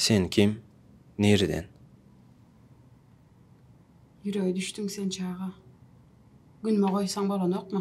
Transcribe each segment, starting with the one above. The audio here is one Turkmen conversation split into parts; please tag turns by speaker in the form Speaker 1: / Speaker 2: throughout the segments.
Speaker 1: Sen kim? Nireden?
Speaker 2: Ýürege düşdüň sen çaga. Günüme goýsaň bolanokmy?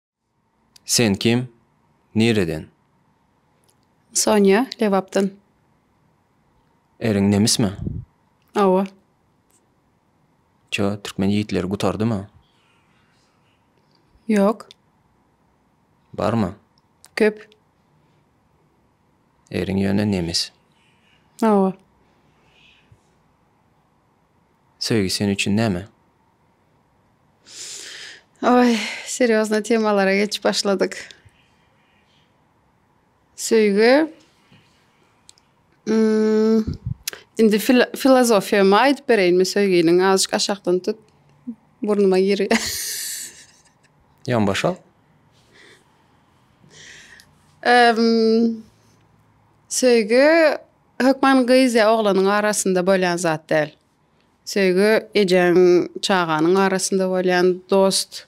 Speaker 1: Sen kim? Nireden?
Speaker 2: Sonýa, Lebapdan.
Speaker 1: Eriň nemismi? Hawa. Çö, türkmen ýigitleri gutardymy?
Speaker 2: Ýok.
Speaker 1: Barmy? Köp. Eriň ýöne nemis. Hawa. Söýgi sen üçin näme?
Speaker 2: Oý, serýozny temalara geçip başladyk. Söýgi. Hmm, indi filozofiýamy aýdyp bereýinmi söýginiň? Azajyk aşakdan tut. Burnuma girýär.
Speaker 1: Ýan başa.
Speaker 2: Söýgi hökman gyz ýa oglanyň arasynda bolýan zat däl. Söýgi ejäň çaganyň arasynda bolýan dost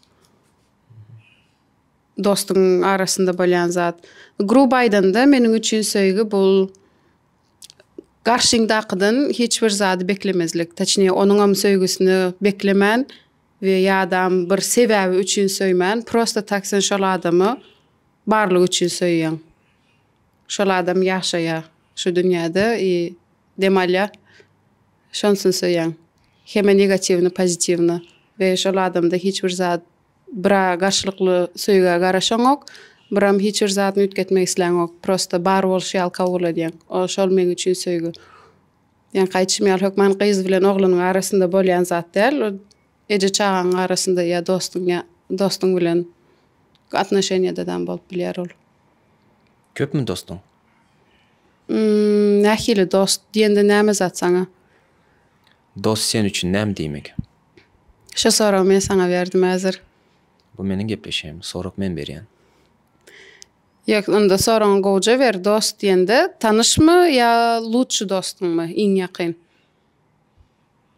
Speaker 2: dostuň arasynda bolýan zat. Gruby aýdanda meniň üçin söýgi bul garşyňdakydan hiç bir zady beklemezlik. Taçnije onuňam söýgüsini beklemän we ýadam bir sebäbi üçin söýmän prosta tak sen şol adamy barlygy üçin söýýäň. Şol adam ýaşaýa şu dünýäde i dem alýa şonsyn söýäň heme negatiwny pozitiwny we şol adamda hiç bir zat bira garşylykly söýgä garaşaňok biram hiç bir zadyny üýtgetmek isläňok prosta bar bolşy ýaly kabul edýäň o şol meň üçin söýgi ýaňky aýdyşym ýaly hökman gyz bilen oglanyň arasynda bolýan zat däl Eje-çagaň arasynda ýa dostuň ýa dostuň bilen atnoşeniýadadam bolup bilýär ol.
Speaker 1: Köpmi dostuň?
Speaker 2: Nähili dost diýende näme zat saňa?
Speaker 1: Dost sen üçin näme diýmek? Şu
Speaker 2: soragy men saňa berdim häzir. Bu meniň
Speaker 1: gepleşigim. Sorag men berýän.
Speaker 2: Ýok, onda soragyňy gowja ber. Dost diýende tanyşmy ýa lutşy dostuňmy, iň ýakyn?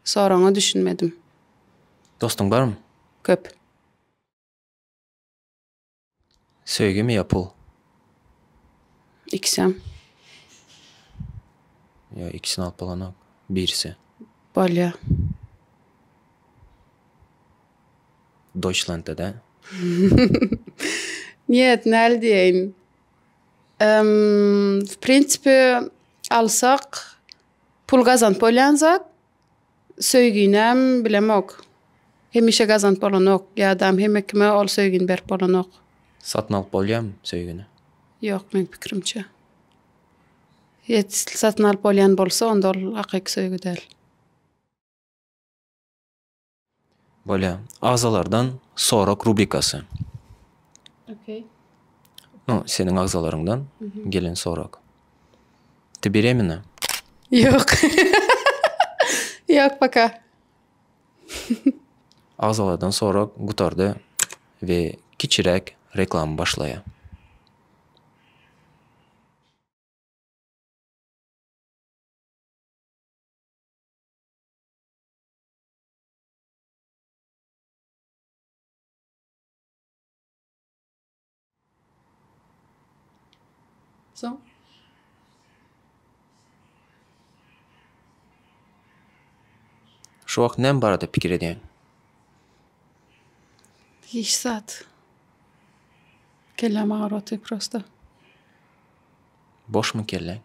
Speaker 2: Soragyňa düşünmedim. Dostuň
Speaker 1: barmy? Köp. Söýgimi ýa pul?
Speaker 2: Ikisem.
Speaker 1: Ýa ikisini alyp bolanok. Birisi. Bolýa. Doýçlantda da.
Speaker 2: Njet, näl diýeýin. Em, w prinsipi alsak. Pul gazanyp bolýan zat, söýginem bilemok. Hemişe gazanyp bolanok, ýadam hemme kime ol söýgini berip bolanok. Satyn alyp
Speaker 1: bolýamy söýgini? Ýok, meň
Speaker 2: pikirimçe. Ýet satyn alyp bolýan bolsa onda ol hakyky söýgi däl.
Speaker 1: Bolýar. Agzalardan sorak rubrikasy.
Speaker 2: Okey.
Speaker 1: No, seniň agzalaryňdan mhm. gelen sorak. Ty beremina? Ýok.
Speaker 2: Ýok, paka.
Speaker 1: Agzalardan sorak gutardy we kiçirek reklama başlaýar.
Speaker 2: Soň
Speaker 1: Şu wagt näme barada pikir edýäň?
Speaker 2: Hiç zat. Kelläm agyrýar prosta.
Speaker 1: Boşmy kelläň?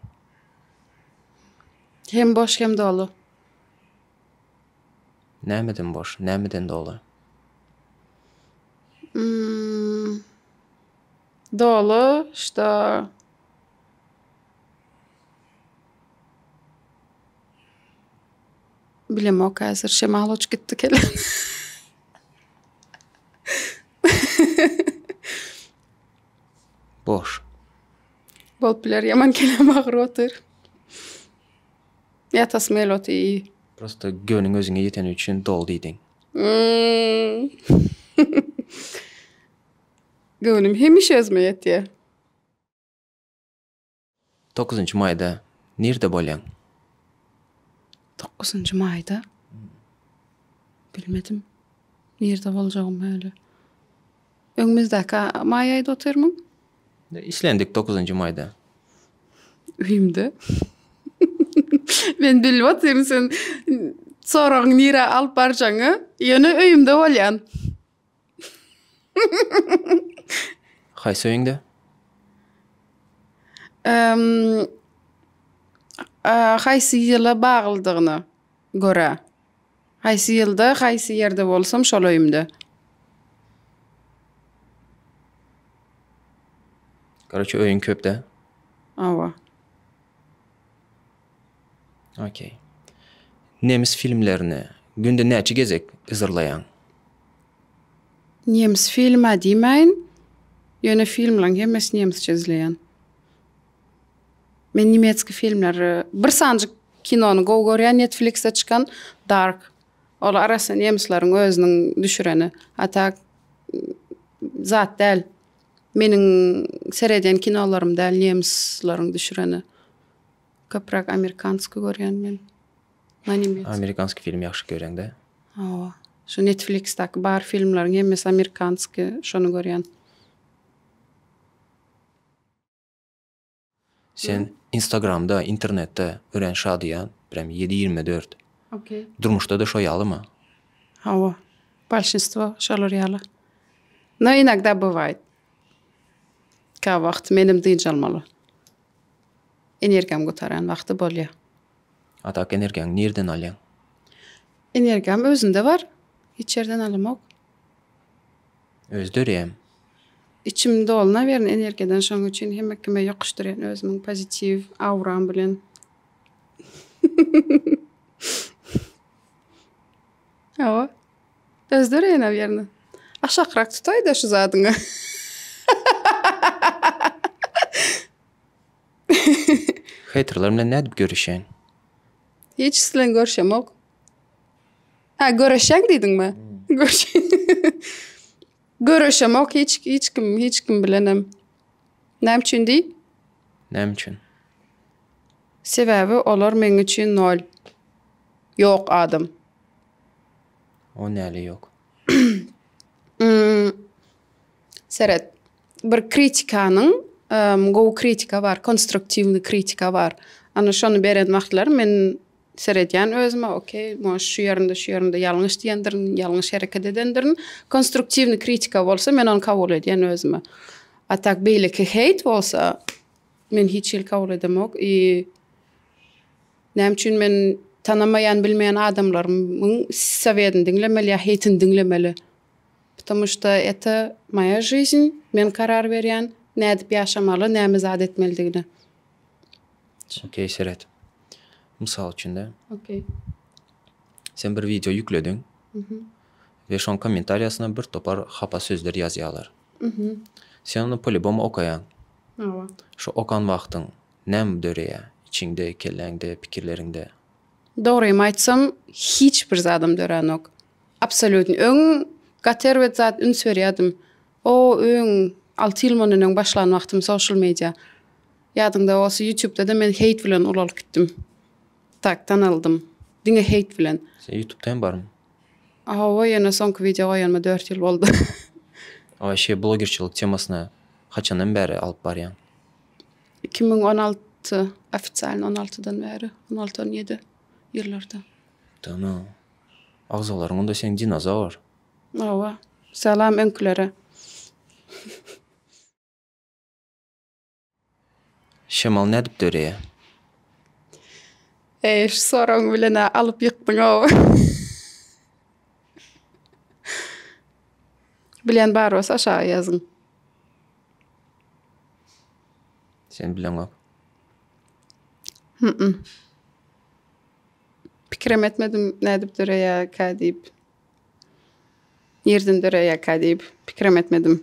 Speaker 2: Hem boş, hem doly.
Speaker 1: Nämeden boş, nämeden doly? Imm.
Speaker 2: Doly, şda. Bilemok häzir, şemal uçup gitdi kelen.
Speaker 1: Boş. Bolup
Speaker 2: biler, ýaman keleň agyryp otyr. Ýatasym gelip otyr. Prosta göwnüň
Speaker 1: özüňe ýeteni üçin doly diýdiň.
Speaker 2: Göwnüm hemişe özüme ýetýär.
Speaker 1: Dokuzynjy maýda nirde bolýaň?
Speaker 2: Dokuzynjy maýda? Bilmedim. Nirde boljagym öýle. Öňümizdäki maý aýda otyrmyň? Işlendik
Speaker 1: dokuzynjy maýda.
Speaker 2: Öýümde. Men bilip otyryn sen soragyň nirä alyp barjagyňy. Ýöne öýümde bolýan.
Speaker 1: Haýsy öýüňde? Ehm,
Speaker 2: a, haýsy ýyla baglydygyna görä. Haýsy ýylda, haýsy ýerde bolsam şol öýümde.
Speaker 1: Koroçe öýüň köpde. Awa. Okey. Nemis filmlerini günde näçe gezek yzarlaýaň?
Speaker 2: Nemis filma diýmäýin. Ýöne filmleriň hemmesini nemisçe izleýän. Men nimetski filmleri bir sanjyk kinony gowy görýän netflixde çykan dark ol arassa nemislerin özüniň düşüreni a tak zat däl meniň seredýän kinolarym däl nemisleriň düşüreni köpräk amerikanski görýän men
Speaker 1: amerikanski film ýagşy görýäňdä hawa
Speaker 2: şu netflixdaki bar filmleriň hemmesi amerikanski şony görýän.
Speaker 1: Sen instagramda, internetde örän şadyýan, prem ýedi ýigrimi dört. Okey.
Speaker 2: Durmuşda-da şo ýalymy?
Speaker 1: Hawa.
Speaker 2: Bolşinstwo şolar ýaly. No inogda bywaýt. Käbir wagt menem dynç almaly. Energiýam gutaran wagty bolýar. A tak
Speaker 1: energiýaňy nirden alýaň?
Speaker 2: Energiýam özümde bar. Hiç ýerden alamok.
Speaker 1: özlerem. Içim
Speaker 2: dolunawern energiýadan şoň üçin hemme kime ýokuşdyrýan özümiň pozitiw awram bilen. Hawa. Özlerem nawernä. Aşakrak tutaýda şu zadyňy.
Speaker 1: Heýterler bilen nädip görüşýän?
Speaker 2: Hiç kisi bilen görüşemok. Ha görüşen dedin mi? Görüşem ok hiç hiç kim hiç kim bilenem. Näme üçin diý? Näme üçin? Sebäbi olar meň üçin nol. Yok adam.
Speaker 1: O näle yok? Hmm.
Speaker 2: Seret. Bir kritikanyň gowy kritika bar, konstruktiwny kritika bar. Ana şony beren wagtlary men seredýän özüme, okey, moş şu ýerinde, şu ýerinde ýalňyş diýendirin, ýalňyş hereket edendirin. Konstruktiwny kritika bolsa men ony kabul edýän özüme. A tak beýleki heýt bolsa men hiç hili kabul edemok i näme üçin men tanamaýan, bilmeýän adamlarymyň sowedini diňlemeli ýa heýtini diňlemeli? Ptomu şto eto moýa žyžn, men karar berýän, nädip ýaşamaly, näme zat etmelidigine.
Speaker 1: Okey, seret. Mysal üçin-de. Okey. Sen bir wideo ýüklediň. Mhm. We şoň kommentariýasyna bir topar hapa sözler ýazýarlar. Mhm. Sen ony polýubomu okaýaň. Hawa.
Speaker 2: Şo okan
Speaker 1: wagtyň näme döreýär içiňde, kelläňde, pikirleriňde? Dogrymy
Speaker 2: aýtsam, hiç bir zadym döränok. Absolýutny. Öň gaty erbet zat üns berýärdim. O öň alty ýyl mundan öň başlan wagtym social media. Ýadyňda bolsa ýutubda-da men hate bilen ulalyp gitdim. Tak tanaldym. Diňe hate bilen. Sen ýutubda hem barmy?
Speaker 1: Hawa
Speaker 2: ýöne soňky wideo goýanyma dört ýyl boldy. Waşe
Speaker 1: blogerçilik temasyna haçandan bäri alyp barýaň? Iki müň on alty,
Speaker 2: ofisialny on altydan bäri, on alty, on ýedi ýyllardan. Tamam.
Speaker 1: Agzalaryňda seň dinozawr. Hawa.
Speaker 2: Salam öňkülere.
Speaker 1: Şemal nädip döreýär?
Speaker 2: Eý şu soragyň bilenä alyp ýykdyň ow. Bilýän bar bolsa aşaga ýazyň.
Speaker 1: Sen bileňok. Hmyy.
Speaker 2: Pikirem etmedim nädip döreýärkä diýip. Nirden döreýärkä diýip pikirem etmedim.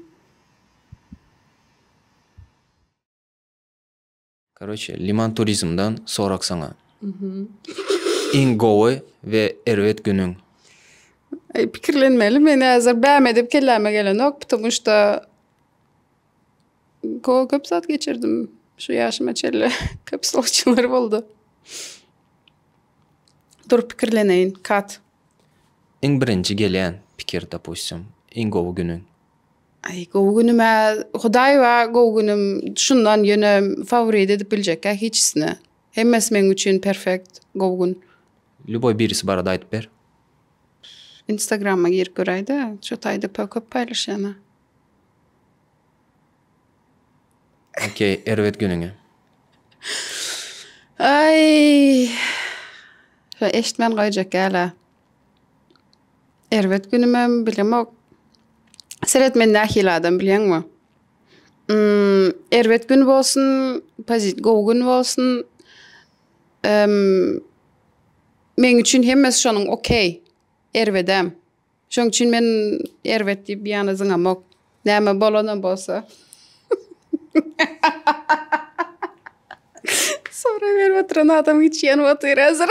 Speaker 1: Karoçe liman turizmdan sorak saňa. Iň gowy we erbet günüň?
Speaker 2: Pikirlenmeli men häzir bäme edip kelläme gelenok ptumuşda Go köp zat geçirdim şu ýaşyma çenli. Köp sowçular boldy. Dur pikirleneýin. Kat. Iň
Speaker 1: birinji gelýän pikir dopustim iň gowy günüň. Aý gowy
Speaker 2: günüm-ä Hudaý bar gowy günüm şundan ýöne favorit edip biljekkä hiçisini. Hemmesi meň üçin perfekt gowy gün. Lýuboý birisi
Speaker 1: barada aýdyp ber.
Speaker 2: Instagrama girip göräýdä. Şu taýda köp paýlaşýan-a.
Speaker 1: Okey, erbet günüňe.
Speaker 2: Aý. Şo eşitmän goýjak ýala. Erbet günümem bilemok. Seret men nähili adam bilýäňmi? Mm, erbet gün bolsun, pozit gowy gün bolsun. Em, meň üçin hemmesi şonuň okey. Erbedem. Şoň üçin men erbet diýip ýana zyňamok. Näme bolanam bolsa. Sorag berip oturan adam hiç ýanyp otyr hazir.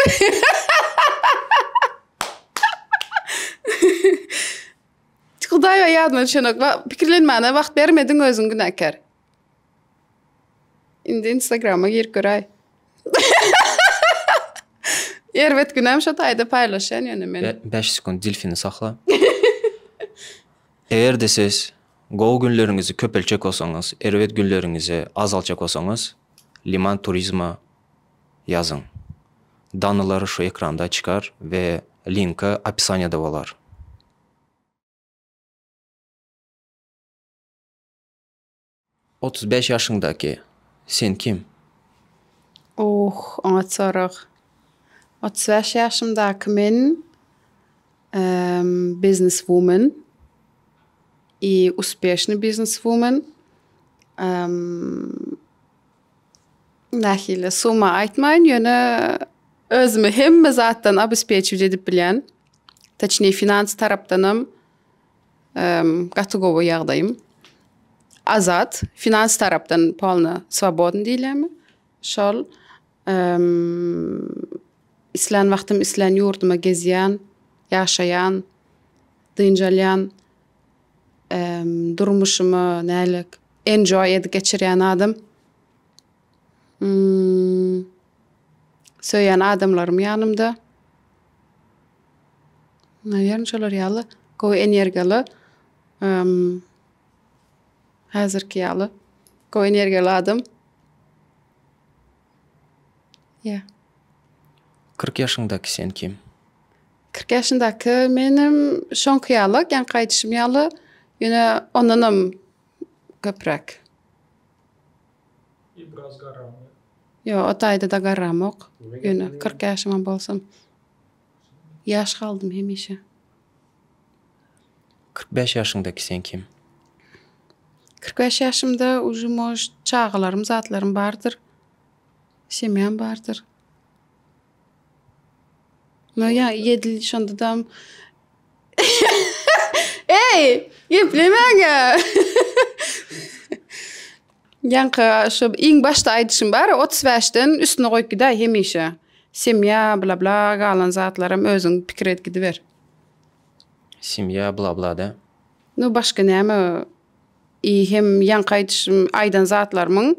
Speaker 2: Hudaýa ýadyma düşenok. Pikirlenmäne wagt bermediň özüň günäkär. Indi instagrama girip göräý. Erbet günem şo taýda paýlaşýan ýöne men. 5 sekund dilfini
Speaker 1: sakla. Eger-de siz gowy günleriňizi köpeltjek bolsaňyz, erbet günleriňizi azaltjak bolsaňyz, Liman Turizma ýazyň. Danylar şu ekranda çykar we linki opisaniýada bolar. Otuz bäş ýaşyňdaky sen kim? Ohh, oňat
Speaker 2: sorag. Otuz bäş ýaşymdaky men, emm, bizneswumen i uspieşnyý bizneswumen. Emm, nähili, summa aýtmaýyn, ýöne özümi hemme zatdan obespekiwt edip bilýän. Toçnije, finans tarapdanam, Gaty gowy ýagdaýym. Azat, finans tarapdan polno swobodny diýilemi? Şol. Islän wagtym islän ýurduma gezýän, ýaşaýan, dynç alýan. Durmuşymy näle enjoy edip geçirýän adam. Söýýän adamlarym ýanymda. Naýýaryn şolar ýaly gowy energiýaly häzirki ýaly gowy energiýaly adam. Ýa.
Speaker 1: Kyrk ýaşyňdaky sen kim? Kyrk
Speaker 2: ýaşyndaky menem şoňky ýaly geňki aýdyşym ýaly ýöne ondanam köpräk.
Speaker 3: Ýa biraz garramy? Ýok, o
Speaker 2: taýda-da garramok. Ýöne kyrk ýaşymam bolsam, ýaş galdym hemişe.
Speaker 1: Kyrk bäş ýaşyňdaky sen kim?
Speaker 2: Kyrk bäş ýaşymda uje mož çagalarym, zatlarym bardyr. Semýam bardyr. No ya yedil şonda dam. Ey, geplemäňä. Ýaňky şu iň başda aýdyşym bar, 35 den üstüne goýup gidäý hemişe. Semýa bla bla galan zatlaram özüň pikir edip gidiber.
Speaker 1: Semýa bla bla da. No başga
Speaker 2: näme? I hem ýaňky aýdyşym aýdan zatlarymyň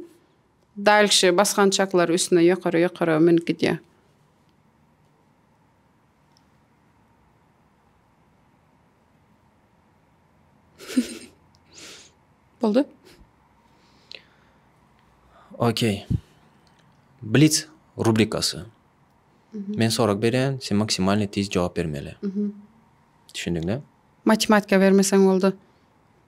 Speaker 2: Dalşy basgançaklary üstüne ýokara ýokara münüp gidýär. Boldy.
Speaker 1: Okey. Blitz rubrikasy. Men sorag berýän, sen maksimalny tiz jogap bermeli. Düşündiňmi? Matematika
Speaker 2: bermeseň boldy.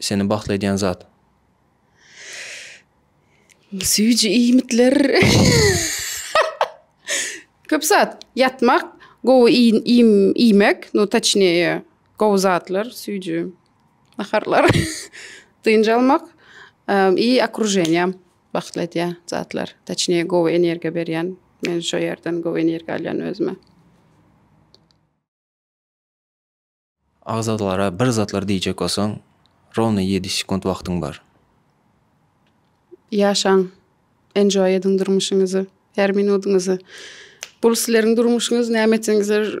Speaker 1: seni bagtly edýän zat?
Speaker 2: Süýji iýmitler. Köp zat. Ýatmak, gowy iým iýmek, no taçnije, gowy zatlar, süýji naharlar, dynç almak, i okrujeniýa bagtly edýän zatlar, taçnije gowy energiýa berýän, men şo ýerden gowy energiýa alýan özüme.
Speaker 1: Agzalara bir zatlar diýjek bolsaň rowno ýedi sekunt wagtyň bar.
Speaker 2: Ýaşaň. Enjoy ediň durmuşyňyzy. Her minudyňyzy. Bul sileriň durmuşyňyz näme etseňizler